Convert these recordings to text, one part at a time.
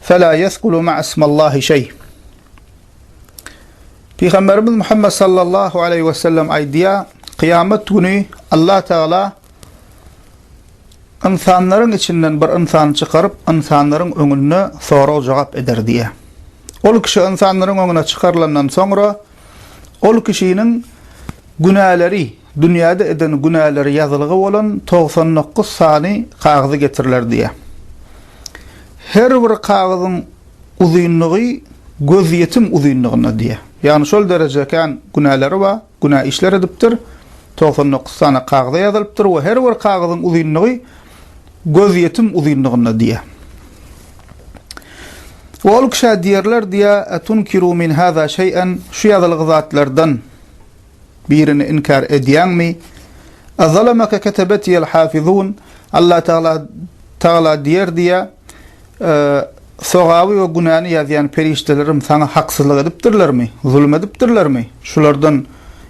Fela yesgulu ma'a ismallahi şeý. Pygamberimiz Muhammed sallallahu aleyhi ve sellem aýdýa, kyýamet güni Allah Tagala ynsanlaryň içinden bir ynsany çykaryp, ynsanlaryň öňünde sorag-jogap eder diýýä. Ol kişi ynsanlaryň öňüne çykarylandan soňra, Ol kişiniň günäleri, dünýäde eden günäleri ýazylgy bolan togsan dokuz sany kagyzy getiriler diýýär. Her bir kagyzyň uzynlygy gözýetim uzynlygynda diýýär. Ýagny şol dereje kän günäleri bar, günä işler edipdir. Togsan dokuz sany kagyza ýazylypdyr we her bir kagyzyň uzynlygy gözýetim uzynlygynda diýýär. We ol kişä diýerler diýýär, Etunkiru min hâzâ şey'en, şu ýazylgy zatlardan birini inkär edýäňmi? Ezalemeke ketebetiýel hâfizûn, Alla Tagala Tagala diýer diýýär, Sogaby we günäni ýazýan perişdelerim saňa haksyzlyk edipdirlermi, zulum edipdirlermi? Şulardan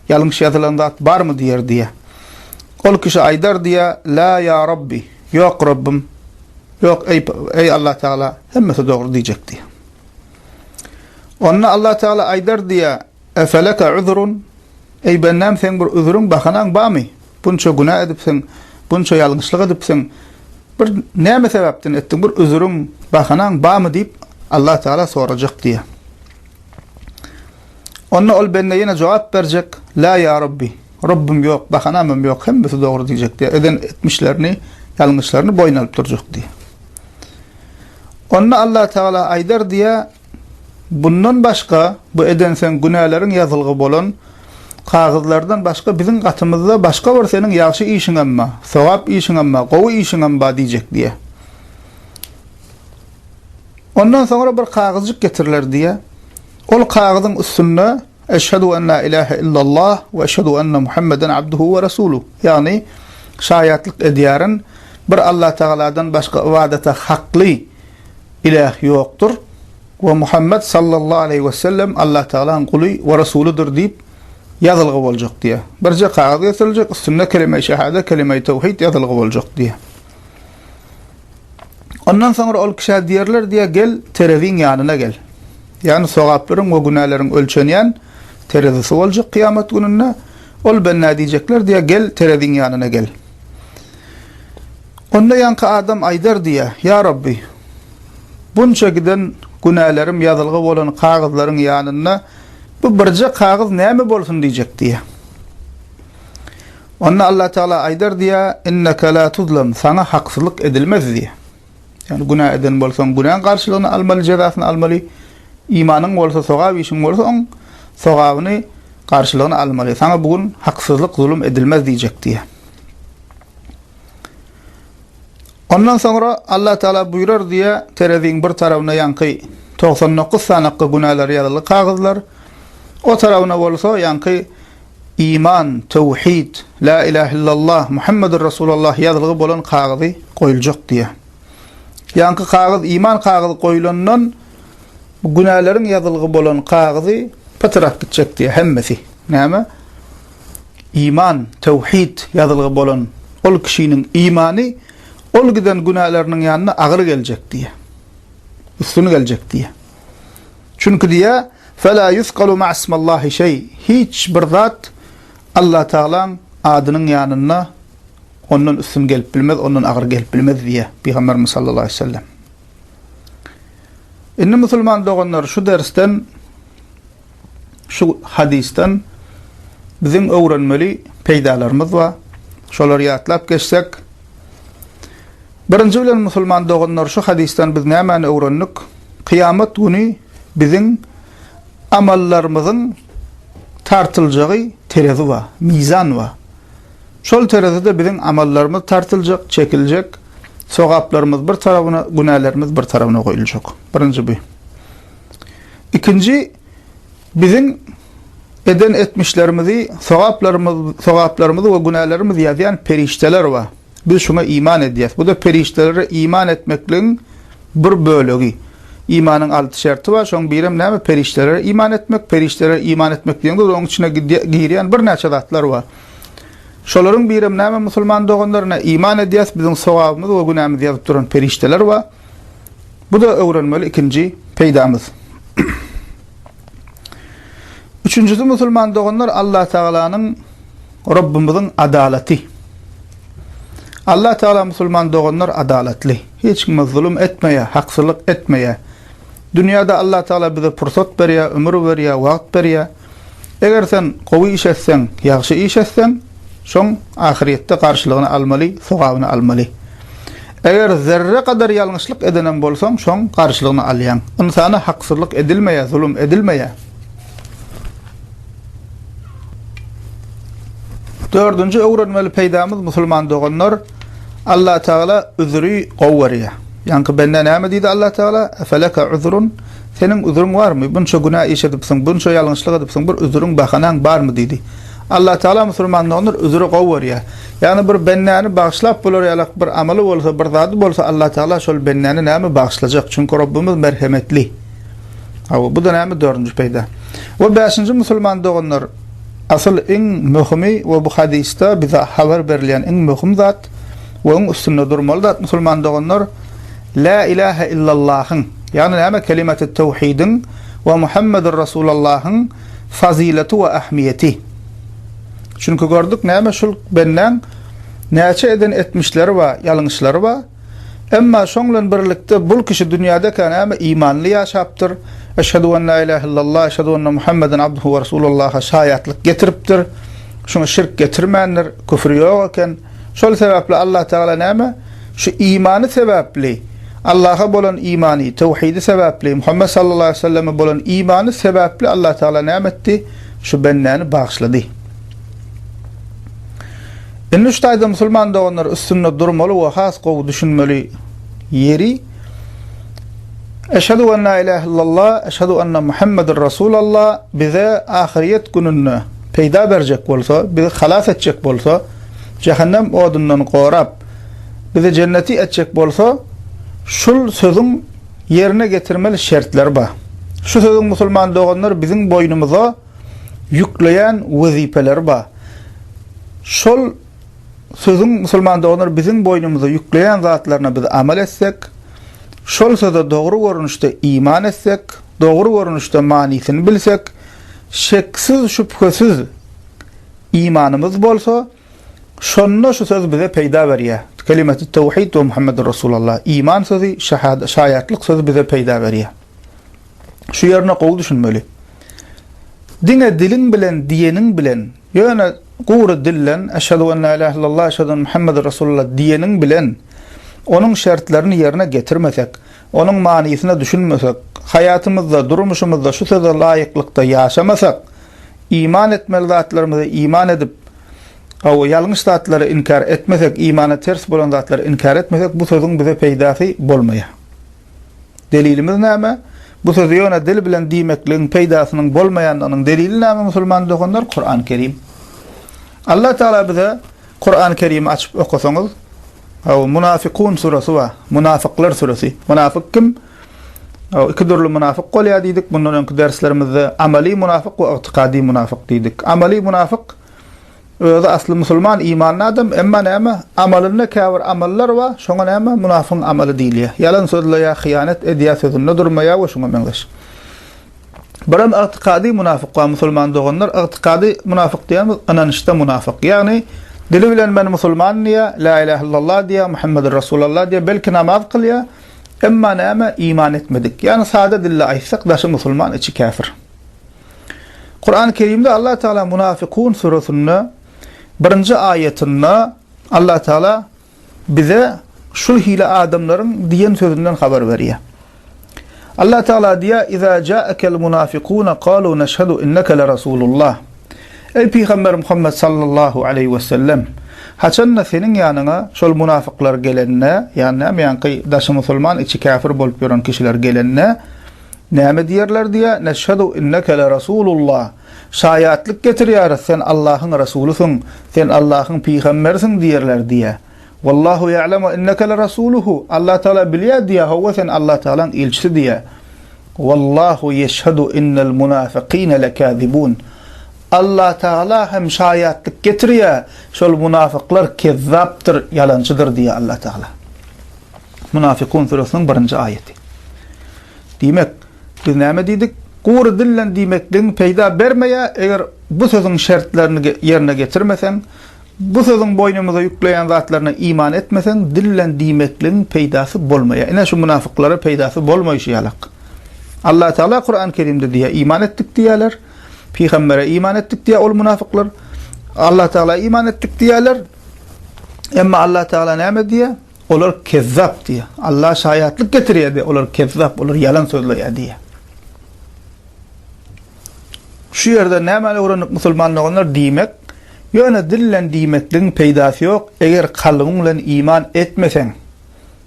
ýalňyş ýazylan zat barmy? diýer, diýýär. Ol kişi aýdar, diýýär, Lâ ýa Rabbi, ýok, Rabbym, ýok, eý, Allatagala, hemmesi dogry diýjek, diýýär. Onda Allatagala aýdar, diýýär. Efeleke üzrun, Eý, bendäm, seň bir üzrüň, bahanaň barmy? Bunça günä edipsiň, bunça ýalňyşlyk edipsiň. Bir näme sebäpden etdiň? Bir üzrüň, bahanaň barmy? diýip, Allah Tagala sorajak diýýär. Onda ol bende ýene jogap berjek, La ýa Rabbi, Rabbym ýok, bahanamam ýok, hemmesi dogry diýjek diýýär. Eden etmişlerini, ýalňyşlaryny boýun alyp durjak diýýär. Onda Allah Tagala aýdar diýýär, Bundan başga, bu edenseň günäleriň ýazylgy bolan kagyzlardan başga biziň gatymyzda başga bir seniň ýagşy işiňem ba, sogap işiňem ba, gowy işiňem ba diýjek diýýär. Ondan soňra bir kagyzjyk getiriler diýýär. Ol kagyzyň üstünde Eşhedu en la ilahe illallah we eşhedu enne Muhammeden abduhu we rasuluh, ýagny şaýatlyk edýärin, bir Allatagaladan başga ybadata hakly Ilah ýokdur we Muhammet sallallahu aleýhi wesellem Allatagalaň guly we resulydyr diýip ýazylgy boljak diýýär. Birje kagyz getiriljek, üstünde Kelimeýi şehade, Kelimeýi tewhid ýazylgy boljak diýýär. Ondan soňra ol kişä diýerler diýýär, gel, tereziň ýanyna gel. Ýagny sogaplaryň we günäleriň ölçenýän terezisi boljak kyýamat gününde. Ol benda diýjekler diýýär, gel, tereziň ýanyna gel. Onda ýaňky adam aýdar diýýär, Ýa Rabbi! Bunça giden günälerim ýazylgy bolan kagyzlaryň ýanynda bu birje kagyz näme bolsun diýjek diýýär. Onda Allatagala aýdar diýýär, Inneke la tuzlam, saňa haksyzlyk edilmez diýýär. Ýagny günä eden bolsaň günäň garşylygyny almaly, jezasyny almaly, imanyň bolsa, sogap işiň bolsa oň sogabyny, garşylygyny almaly. Saňa bu gün haksyzlyk, zulum edilmez diýjek diýýär. Ondan soňra Allah Tagala buýrar diýe tereziň bir tarawyna ýaňky togsan dokuz sanakga günälär ýazyly kagyzlar, o tarawyna bolsa ýaňky iman, töwhid, lä ilah illallah, Muhammedur Resulallah ýazylgy bolan kagyzy goýuljak diýe. Ýaňky kagyz iman kagyzy goýulandan günäleriň ýazylgy bolan kagyzy pytrap gitjek diýe hemmesi. Näme? Iman, tewhid, ýazylgy bolan ol kişiniň imany ol giden günäleriniň ýanyna agyr geljek diýýär. Üstün geljek diýýär. Çünki diýýär, Felâ yusgalu ma'asmallâhi şeý, hiç bir zat Allatagalaň adynyň ýanynda ondan üstün gelip bilmez, ondan agyr gelip bilmez diýýär Pygamberimiz sallallahu aleýhi we sellem. Indi musulman doganlar şu dersden Şu hadysdan biziň öwrenmeli peýdalarymyz bar. Şolary ýatlap geçsek, Birinji bilen musulman doganlar şu hadysdan biz nämäni öwrendik? Kyýamat güni biziň amallarymyzyň tartyljagy terezi bar, mizan bar. Şol terezide biziň amallarymyz tartyljak, çekiljek, sogaplarymyz bir tarabyna, günälerimiz bir tarabyna goýuljak. Birinji bu. Ikinji, biziň eden etmişlerimizi, sogaplarymyz, sogaplarymyzy we günälerimizi ýazýan perişdeler bar. Biz şuňa iman edýäs. Bu-da perişdelere iman etmekligiň bir bölegi. Imanyň alty şerti bar, şoň birem näme? Perişdelere iman etmek. Perişdelere iman etmek diýeňde, onuň içine girýän birnäçe zatlar bar. Şolaryň birem näme, musulman doganlar? Ine, iman edýäs, biziň sogabymyzy we günämizi ýazyp duran perişdeler bar. Bu-da öwrenmeli ikinji peýdamyz. Üçünjisi, musulman doganlar, Allatagalanyň, Rabbymyzyň adalaty. Allatagala, musulman doganlar, adalatly. Hiç kime zulum etmeýär, haksyzlyk etmeýär. Dünýäde Allatagala bize pursat berýär, ömür berýär, wagt berýär. Eger sen gowy iş etseň, ýagşy iş etseň, şoň ahyrýetde garşylygyny almaly, sogabyny almaly. Eger zerre gadar ýalňyşlyk edenem bolsaň, şoň garşylygyny alýaň. Ynsana haksyzlyk edilmeýär, zulum edilmeýär. Dördünji öwrenmeli peýdamyz, musulman doganlar, Allatagala üzri gowy görýär. Ýaňky bende näme diýdi Allatagala? Efeleke üzrun? Seniň üzüriň barmy? Bunça günä iş edipsiň, bunça ýalňyşlyk edipsiň, bir üzüriň, bahanaň barmy? diýdi. Allatagala musulman doganlar üzüri gowy görýär. Ýagny bir bendäni bagyşlap bolar ýalak bir amaly bolsa, bir zady bolsa Allatagala şol bendäni näme bagyşlajak? Çünki Rabbimiz merhemetli. Hawa, bu-da näme dördünji peýda. We bäşinji musulman doganlar, asyl iň möhümi we bu hadysda bize habar berilýän iň möhüm zat we iň üstünde durmaly zat musulman doganlar, Lä ilähe illallahyň, ýagny näme kelimaty töwhidiň we Muhammedur Rasulallahyň fazyleti we ähmiýeti. Çünki gördük näme şul bendäň näçe eden etmişleri bar, ýalňyşlary bar. Emma şoň bilen birlikde bul kişi dünýädekä näme imanly ýaşapdyr, Eşhedü en lä ilähe illallah, eşhedü enne Muhammeden abduhu we rasulullaha şaýatlyk getiripdir. Şuňa şirk getirmändir, küfri ýok eken. Şol sebäpli Allah Tagala näme? Şu imany sebäpli, Allaha bolan imany, töwhidi sebäpli, Muhammet sallallahu aleýhi we selleme bolan imany sebäpli Allah Tagala näme etdi? Şu bendäni bagyşlady. Indi şu taýda musulman doganlar üstünde durmaly we has gowy düşünmeli ýeri Eşhedü en la ilahe illallah, eşhedü enne Muhammeden Resulallah bize ahyryýet gününde peýda berjek bolsa, bizi halas etjek bolsa, jähennem odundan gorap, bizi jenneti etjek bolsa, şul sözüň ýerine getirmeli şertleri bar. Şu sözüň musulman doganlar biziň boýnumyza ýükleýän wezipeleri bar. Şol sözüň musulman doganlar biziň boýnumyza ýükleýän zatlaryna biz amal etsek, şol söze dogry görnüşde iman etsek, dogry görnüşde manysyny bilsek, şeksiz-şübhesiz imanymyz bolsa, Şonda şu söz bize peýda berýär. Kelimetü't tewhid we Muhammedür Resulallah, iman sözi, şaýatlyk sözi bize peýda berýär. Şu ýerine gowy düşünmeli. Diňe diliň bilen diýeniň bilen, ýöne gury dilden Eşhedü en la ilahe illallah, Eşhedü enne Muhammedür Resulallah diýeniň bilen onuň şertlerini ýerine getirmesek, Onuň manysyna düşünmesek, haýatymyzda, durmuşymyzda şu söze laýyklykda ýaşamasak, iman etmeli zatlarymyza iman edip, gowy, ýalňyş zatlary inkär etmesek, imana ters bolan zatlary inkär etmesek, bu sözüň bize peýdasy bolmaýar. Delilimiz näme? Bu sözi ýöne dil bilen diýmekligiň peýdasynyň bolmaýandygynyň delili näme musulman doganlar? Kurany Kerim. Alla Tagala bize Kurany Kerimi açyp okasaňyz Haw Munafykun surasy bar. Munafyklar surasy. Munafyk kim? Haw iki dürli munafyk bolýar diýdik. Mundan öňki derslerimizde amaly munafyk we ygtykady munafyk diýdik. Amaly munafyk özi asly musulman imanly adam emma näme amalynda käbir amallar bar şoňa näme munafygyň amaly diýilýär. Ýalan sözleýär, hyýanat edýär, sözünde durmaýar we şuňa meňzeş. Buram ygtykady munafyk bar musulman doganlar ygtykady munafyk diýýämiz ynanyşda munafyk ýagny dili bilen men musulman diýýär la ilah illallah diýýär Muhammedur Rasulallah diýýär belki namaz kylýar emma näme iman etmedik ýagny sada dilde aýtsak daşy musulman içi käfir Kurany Kerimde Allah Taala munafykun surasynda birinji aýatynda Allah Taala bize şul hili adamlaryň diýen sözünden habar berýär. Allah Tagala diýýär, Iza ja'akel munafikuna kalu neşhedu inneke le Rasulullah. Eý Pygamber Muhammet sallallahu aleýhi we sellem! Haçanda seniň ýanyňa şol munafyklar gelende, ýagny näme ýaňky daşy musulman içi käfir bolup ýören kişiler gelende näme diýerler diýýär, neşhedu inneke le Rasulullah. Şaýatlyk getirýäris sen Allahyň Rasulysyň, sen Allahyň pygamberisiň diýerler diýe. Wallahu ýa'lemu inneke lerasuluhu, Allah Tagala bilýär diýe, hawa sen Allah Tagalaň ilçisi diýe. Wallahu ýeşhedu innel munafykine lekazibun, Allah Tagala hem şaýatlyk getirýär, şol munafyklar kezzapdyr, ýalançydyr diýe Allah Tagala. Munafykun süresiniň birinji aýaty. Diýmek. Biz näme diýdik? Gury dillen diýmekligiň peýda bermeýär, eger bu sözüň şertlerini ýerine getirmeseň, bu sözüň boýnumyza ýükleýän zatlaryna iman etmeseň, dillen diýmekligiň peýdasy bolmaýar. Ine, şu mynafyklara peýdasy bolmaýşy ýalak. Allah Tagala Kurany Kerimde diýýär, Iman etdik diýýärler, pygambere iman etdik diýýär ol mynafyklar. Allah Tagala iman etdik diýýärler, emma Allah Tagala näme diýýär? Olar kezzap diýýär. Alla şaýatlyk getirýär diýýär. Olar kezzap, olar ýalan sözleýär diýýär. Şu ýerden nämäni öwrendik musulman doganlar? Diýmek, ýöne dil bilen diýmekligiň peýdasy ýok, eger kalbyň bilen iman etmeseň,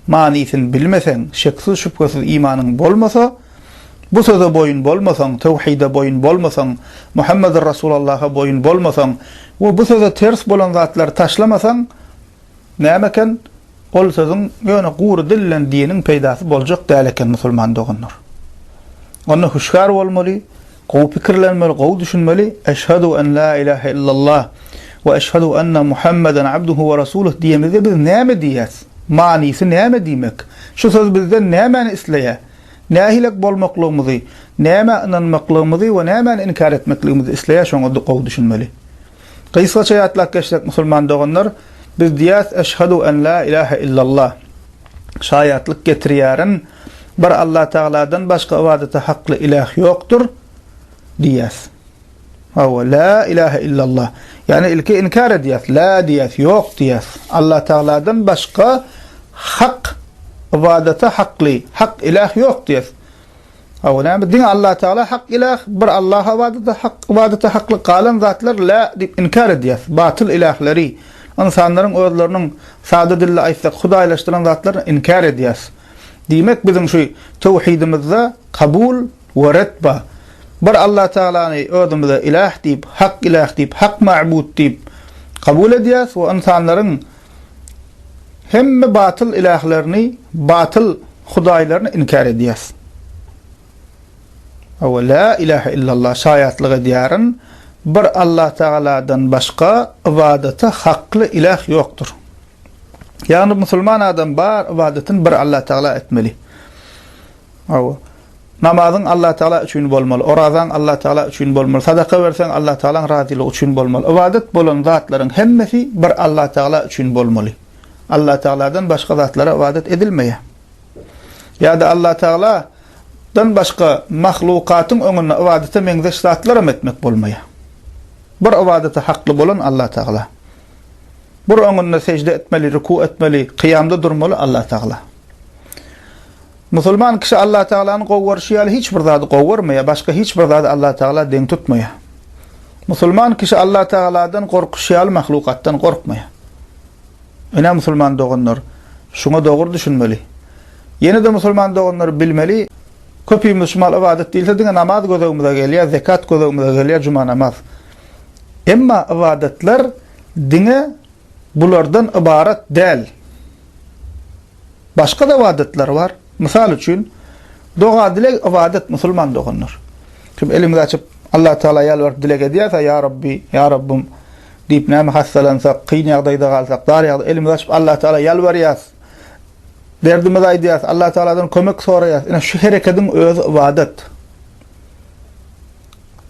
manysyny bilmeseň, şeksiz-şübhesiz imanyň bolmasa, bu söze boýun bolmasaň, töwhide boýun bolmasaň, Muhammedur Rasulallaha boýun bolmasaň we bu söze ters bolan zatlary taşlamasaň, Näme eken ol sözüň ýöne gury dil bilen diniň peýdasy boljak däl eken musulman doganlar. Onda hüşgär bolmaly, gowy pikirlenmeli, gowy düşünmeli, Eşhadu en la ilahe illallah we eşhadu enne Muhammeden abduhu we rasuluh diýemizde biz näme diýýäs? Manysy näme diýmek? Şu söz bizden nämäni isleýär? Nähilek bolmaklygymyzy, nämä ynanmaklygymyzy we nämäni inkär etmekligimizi isleýär şoňa gowy düşünmeli. Gysgaça ýatlap geçsek musulman doganlar, biz diýýäs Eşhadu en la ilahe illallah, şaýatlyk getirýärin, bir Allah Tagaladan başga ybadata hakly iläh ýokdur diýýäs. Hawa, la ilahe illallah. Ýagny ilki inkär edýäs, la diýýäs, ýok diýýäs. Allah Tagaladan başga hak ybadata hakly, hak iläh ýok diýýäs. Hawa, näme, diňe Allatagala hak ilah, bir Allaha ybadata hak, ybadata haklyk, galan zatlar la diýip inkär edýär. Batyl ilahleri, ynsanlaryň özleriniň, sada dilde aýtsak, hudaýlaşdyran zatlaryny inkär edýär. Diýmek, biziň şu töwhidimizde kabul we ret bar. Bir Allatagalany özümize ilah diýip, hak ilah diýip, hak mabut diýip kabul edýäris we ynsanlaryň Hemme batyl ilählerini, batyl hudaýlaryny inkär edýäs. Awa la ilahe illallah şaýatlyk edýärin, bir Allah Tagaladan başga ybadata hakly iläh ýokdur. Ýagny musulman adam bar ybadatyn bir Allah Tagala etmeli. Hawa. Namazyň Allatagala üçin bolmaly, orazaň Allatagala üçin bolmaly, sadaka berseň Allatagalaň razylygy üçin bolmaly. Ybadat bolan zatlaryň hemmesi bir Allatagala üçin bolmaly. Allatagaladan başga zatlara ybadat edilmeýär. Ýa-da Allatagala dan başga mahlukatyň öňünde ybadata meňzeş zatlaram etmek bolmaýar. Bir ybadata hakly bolan Allatagala. Bir öňünde sežde etmeli, ruku etmeli, kyýamda durmaly Allatagala. Musulman kişi Allatagalany gowy görşi ýaly hiç bir zady gowy görmeýär, başga hiç bir zady Allatagala deň tutmaýar. Musulman kişi Allatagaladan gorkuşy ýaly mahlukatdan gorkmaýar. Ine musulman doganlar, şuňa dogry düşünmeli. Ýene-de musulman doganlar bilmeli, köpimiz şu mahaly ybadat diýilse diňe namaz gözegimize gelýär, zekat gözegimize gelýär, juma namaz. Emma ybadatlar diňe bulardan ybarat däl. Başga-da ybadatlar bar. Mysal üçin, doga-dileg ybadat, musulman doganlar. Kim elimizi açyp, Allatagala ýalbaryp dileg edýärse, Ýa Rabbi, Ýa Rabbym diýip, näme hassalansak, kyn ýagdaýda galsak, dar ýagdaý, elimizi açyp, Allatagala ýalbarýarys, derdimizi aýdýarys, Allatagaladan kömek soraýarys. Ine, şu herekediň özi ybadat.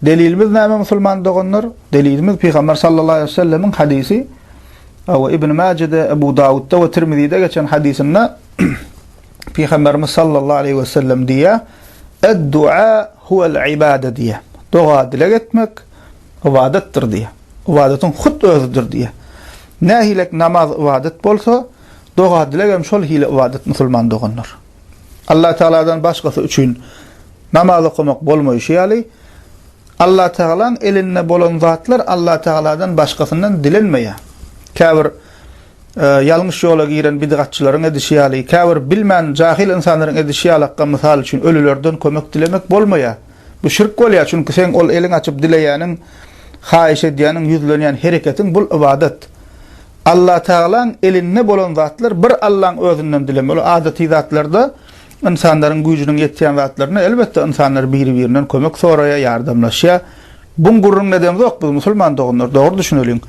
Delilimiz näme musulman doganlar? Delilimiz Pygamber sallallahu aleyhi ve sellemiň hadisi. Awa Ibn Majede, Ebu Davudda ve Tirmizide geçen hadisinde Pygamberimiz sallallahu aleyhi ve sellem diýýär: "Ed-dua huvel ibade" diýýär. Doga dileg etmek ybadatdyr diýýär. Ybadatyň hut özüdir diýýär. Nähilek namaz ybadat bolsa, doga dileg hem şol hili ybadat musulman doganlar. Allatagaladan başgasy üçin namaz okamak bolmaýşy ýaly, Allatagalaň elinde bolan zatlar Allatagaladan başgasyndan dilenmeýär. Käbir ýalňyş ýola giren bidgatçylaryň edişi ýaly, käbir bilmän jahyl ynsanlaryň edişi ýalakka mysal üçin ölülerden kömek dilemek bolmaýar. Bu şirk bolýar, çünki seň ol eliň açyp dileýäniň, haýyş edýäniň, ýüzlenýän hereketiň bul ybadat. Allatagalaň elinde bolan zatlar bir Allaň özünden dilemeli. Ol adaty zatlarda ynsanlaryň güýjüniň ýetýän zatlarynda elbetde ynsanlar biri-birinden kömek soraýar, ýardamlaşýar. Buň gürrüňini edemzok biz musulman doganlar, dogry düşüneliň.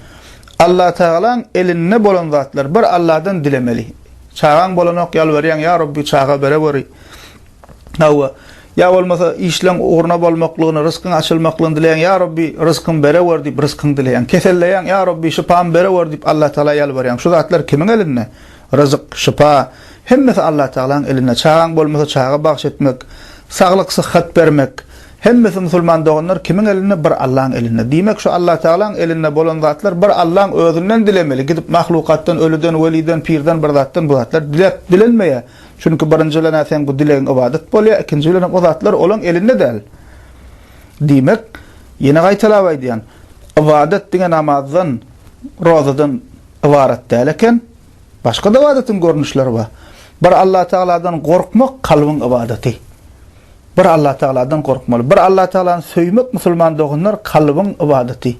Allatagalaň elinde bolan zatlar bir Alladan dilemeli. Çagaň bolanok ýalbarýaň, ýa Rabbi çaga bereweri. Hawa, ýa bolmasa işleň ugruna bolmaklygyny, ryskyň açylmaklygyny dileýäň, ýa Rabbi, ryskymy berewer diýip ryskyňy dileýäň. Keselleýäň, ýa Rabbi, şypamy berewer diýip Allatagala ýalbarýaň. Şu zatlar kimiň elinde? Ryzyk, şypa, hemmesi Allatagalanyň elinde. Çagaň bolmasa çaga bagyş etmek, saglyk, syhhat bermek, hemmesi musulman doganlar kimiň elinde? Bir Allaň elinde. Diýmek şu Allatagalaň elinde bolan zatlar bir Allaň özünden dilemeli, gidip mahlukatdan, ölüden, weliden, pirden bir zatdan bu zatlar dilep, dilenmeýär. Çünki birinji bilen-ä seň bu dilegiň ybadat bolýar, ikinji bilen hem o zatlar olaň elinde däl. Diýmek, ýene gaýtalap aýdýan, ybadat diňe namazdan, rozadan ybarat däl eken, başga-da ybadatyň görnüşleri bar. Bir Allatagaladan gorkmak kalbyň ybadaty. Bir Allatagaladan gorkmaly. Bir Allatagalany söýmek, musulman doganlar, kalbyň ybadaty.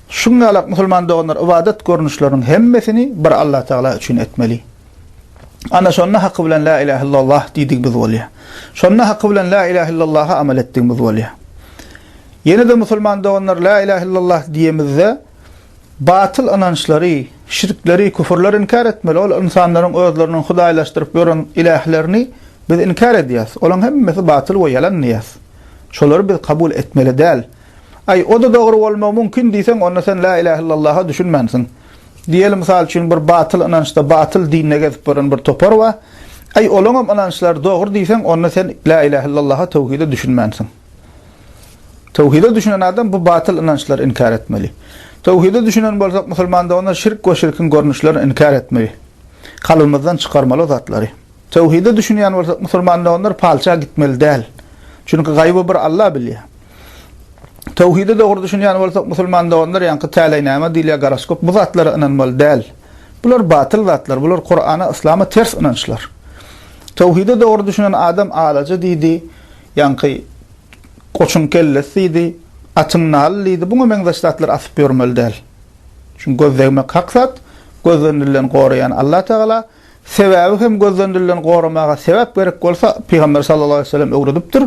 Şuňňalak musulman doganlar ybadat görnüşleriniň hemmesini bir Allatagala üçin etmeli. Ana şonda haky bilen la ilahe illallah diýdigimiz bolýar. Şonda haky bilen la ilahe illallaha amal etdigimiz bolýar. Ýene-de musulman doganlar la ilahe illallah diýemizde batyl ynançlary, şirkleri, küfürleri inkär etmeli. Ol ynsanlaryň özleriniň hudaýlaşdyryp ýören ilählerini biz inkär edýäs. Olaryň hemmesi batyl we ýalan diýýäs. Şolary biz kabul etmeli däl. Aý, o-da dogry bolmagy mümkin diýseň, onda sen la ilahe illallaha düşünmänsiň. Diýeli, mysal üçin, bir batyl ynançda, batyl dinde gezip ýören bir topar bar. Aý, olaňam ynançlary dogry diýseň, onda sen Lä ilähe illallaha, tawhide düşünmänsiň. Tawhide düşünen adam bu batyl ynançlary inkär etmeli. Tawhide düşünen bolsak, musulmanda onda şirk we şirkiň görnüşlerini inkär etmeli. Kalbymyzdan çykarmaly o zatlary. Töwhide düşünýän bolsak musulmanda onlar palça gitmeli däl. Çünki gaýby bir Alla bilýär. Töwhide dogry düşünýän bolsak musulmanda onlar ýaňky täleýnama diýilýär goroskop bu zatlara ynanmaly däl. Bular batyl zatlar bular Kurana yslama ters ynançlar. Töwhide dogry düşünen adam alaja diýdi, ýaňky goçuň kellesi diýdi, atyň naly diýdi buňa meňzeş zatlar asyp ýörmeli däl. Çünki göz degmek hak zat, gözden dilden goraýan Alla tagala. Sebäbi hem gözlendirileni goramaga sebäp gerek bolsa, Pygamber sallallahu aleýhi we sellem öwredipdir.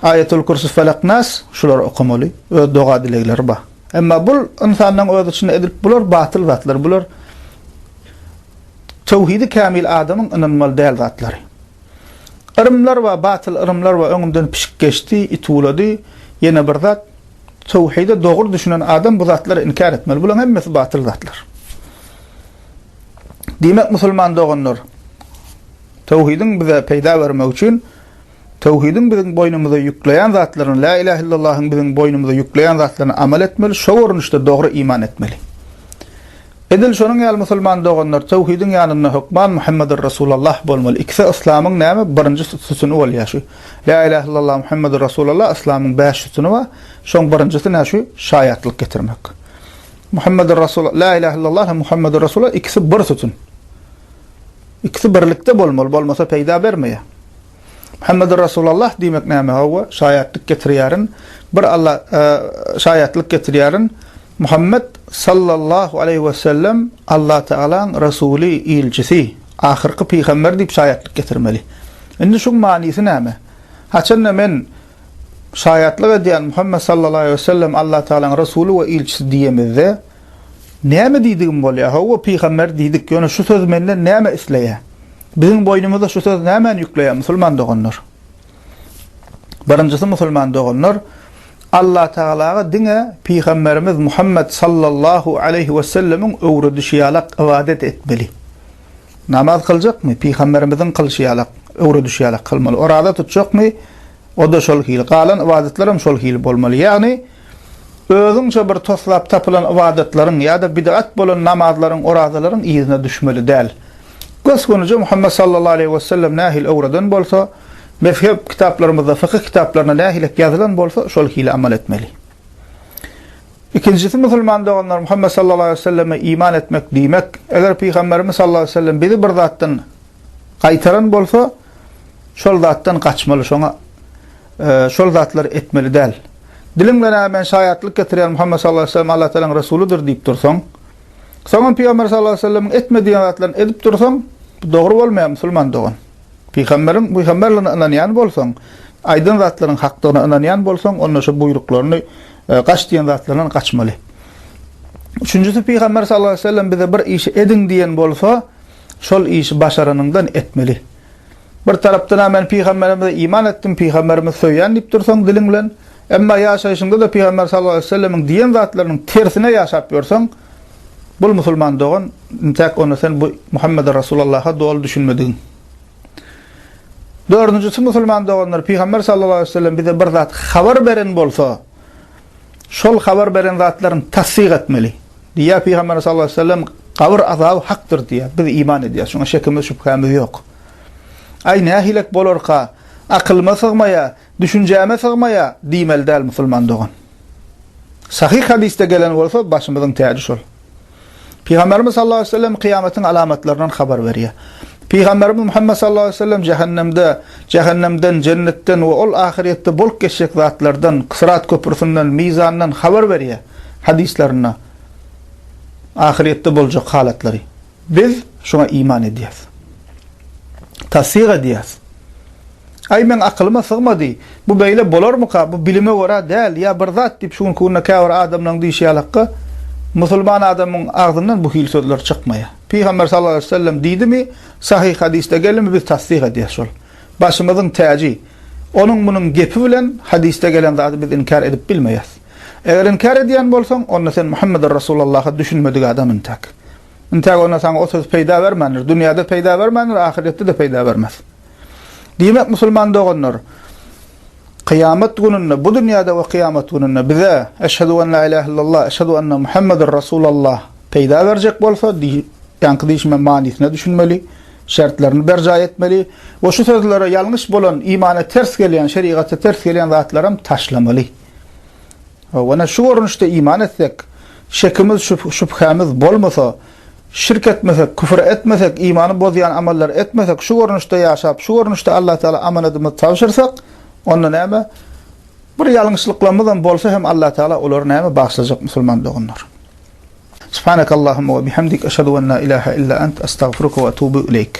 Aýetül-Kürsü, Felak, Nas, şulary okamaly. Öz doga-dilegleri bar. Emma bul ynsanlaryň öz içinde edilip bular batyl zatlar. Bular töwhidi kämil adamyň ynanmaly däl zatlary. Yrymlar bar, batyl yrymlar bar. Öňümden pişik geçdi, it uwlady. Ýene bir zat, töwhide dogry düşünen adam bu zatlary inkär etmeli. Bularyň hemmesi batyl zatlar. Diýmek, musulman doganlar, töwhidiň bize peýda bermegi üçin töwhidiň biziň boýnumyza ýükleýän zatlaryny, Lä ilähe illallahyň biziň boýnumyza ýükleýän zatlaryny amal etmeli, şo görnüşde dogry iman etmeli. Edil şonuň ýaly musulman doganlar töwhidiň ýanynda hökman Muhammedur Resulallah bolmaly. Ikisi yslamyň näme? Birinji sütüni bolýar şu. Lä ilähe illallah Muhammedur Resulallah yslamyň bäş sütüni bar. Şoň birinjisi nä şu? Şaýatlyk getirmek. Muhammedur Rasul, La ilahe illallah hem Muhammedur Rasulullah ikisi bir sütün. İkisi birlikde bolmaly, bolmasa peýda bermeýär. Muhammedur Rasulullah diýmek näme? Hawa, şaýatlyk getirýärin. Bir Allah e, şaýatlyk getirýärin. Muhammed sallallahu aleyhi ve sellem Allah Teala'nın Resulü, ilçisi, ahirki peygamber deyip şayatlık getirmeli. Şimdi şu manisi neyme? Haçanda men Şaýatlyk edýän Muhammet sallallahu aleýhi wesellem Allah Tagalaň Resuly we ilçisi diýemizde näme diýdigim bolýar? Hawa pygamber diýdik, ýöne şu söz menden näme isleýär? Biziň boýnumyza şu söz nämäni ýükleýär musulman doganlar? Birinjisi musulman doganlar Allah Tagalaga diňe pygamberimiz Muhammet sallallahu aleýhi wesellemiň öwredişi ýalak ybadat etmeli. Namaz kyljakmy? Pygamberimiziň kylşy ýalak, öwredişi ýalak kylmaly. Oraza tutjakmy? O-da şol hili. Galan ybadatlar hem şol hili bolmaly. Ýagny, özüňçe bir toslap tapylan ybadatlaryň ýa-da bid'at bolan namazlaryň, orazalaryň yzyna düşmeli däl. Gös-göni-je Muhammet sallallahu aleýhi wesellem nähili öwreden bolsa, mezhep kitaplarymyzda, fykyh kitaplarynda nähilek ýazylan bolsa, şol hili amal etmeli. Ikinjisi musulman doganlar Muhammet sallallahu aleýhi we selleme iman etmek diýmek. Eger pygamberimiz sallallahu aleýhi we sellem bizi bir zatdan gaýtaran bolsa, şol zatdan gaçmaly, şoňa şol zatlary etmeli däl. Diliň bilen a men şaýatlyk getirýän Muhammet sallallahu aleýhi we sellem Allah Taalanyň resulydyr diýip dursaň, soňam pygamber sallallahu aleýhi we sellemiň etme diýen zatlaryny edip dursaň, bu dogry bolmaýar musulman dogan. Pygamberiň pygamberligine ynanýan bolsaň, aýdan zatlaryň hakdygyna ynanýan bolsaň, onda şu buýruklaryny, gaç diýen zatlaryndan gaçmaly. Üçünjisi pygamber sallallahu aleýhi we sellem bize bir işi ediň diýen bolsa, şol işi başaranyňdan etmeli. Bir tarapdan-a men pygamberimize iman etdim, pygamberimi söýýän diýip dursaň diliň bilen, Emma ýaşaýşyňda-da Pygamber sallallahu aleýhi we sellemiň diýen zatlarynyň tersine ýaşap ýörseň, bul musulman dogan, intäk onda sen bu Muhammede Rasulallaha doly düşünmedigiň. Dördünjisi musulman doganlar, Pygamber sallallahu aleýhi we sellem bize bir zat habar beren bolsa, şol habar beren zatlaryny tassyk etmeli. Diýýär Pygamberimiz sallallahu aleýhi we sellem, Gabyr azaby hakdyr diýýär. Biz iman edýäris, şuňa şekimiz, şübhämiz ýok. Aý, nähilek bolarka, akylyma sygmaýar, Düşünjäme sygmaýa diýmeli däl musulman dogan. Sahyh hadysda gelen bolsa başymyzyň täji şol. Pygamberimiz sallallahu aleyhi ve sellem kyýamatyň alamatlaryndan habar berýär. Pygamberimiz Muhammed sallallahu aleyhi ve sellem jehennemde, jehennemden, jennetden we ol ahyryýetde bolup geçjek zatlardan, syrat köprüsinden, mizandan habar berýär hadyslarynda ahyryýetde boljak halatlary. Biz şuňa iman edýäris. Tassyk edýäris. Aý, meň akylyma sygmady. Bu beýle bolarmyka? Bu bilime görä däl, ýa bir zat diýip, şu günki günde käbir adamlaryň diýşi ýalakka, musulman adamyň agzyndan bu hili sözler çykmaýa. Pygamber sallallahu aleýhi we sellem diýdimi, sahyh hadysda gelimi biz tassyk edýäs şol. Başymyzyň täji. Onuň munuň gepi bilen hadysda gelen zady biz inkär edip bilmeýäs. Eger inkär edýän bolsaň, onda sen Muhammedur Rasulallaha düşünmedik adam intäk. Intäk onda saňa o söz peýda bermändir. Dünýäde peýda bermändir, ahyretde-de peýda bermez. Diýmek, musulman doganlar, kyýamat gününde, bu dünýäde we kyýamat gününde bize Eşhedü en la ilahe illallah, Eşhedü enne Muhammedun Resulallah peýda berjek bolsa, diýýänki diýşime manysyna düşünmeli, şertlerini berjaý etmeli we şu sözlere ýalňyş bolan, imana ters gelýän, şerigaty ters gelýän zatlaram taşlamaly. Ýöne şu görnüşde iman etsek, şekimiz, şübhämiz, bolmasa, şirk etmesek, küfür etmesek, imany bozýan amallary etmesek, şu görnüşde ýaşap, şu görnüşde Alla Tagala amanadymyzy tabşyrsak, onda näme, bir ýalňyşlyklarymyzam bolsa hem Alla Tagala olary näme, bagyşlajak musulman doganlar. Subhanakallahumma we bihamdik, eşhedü en la ilahe illa ent, estagfiruke we etubu ileýk.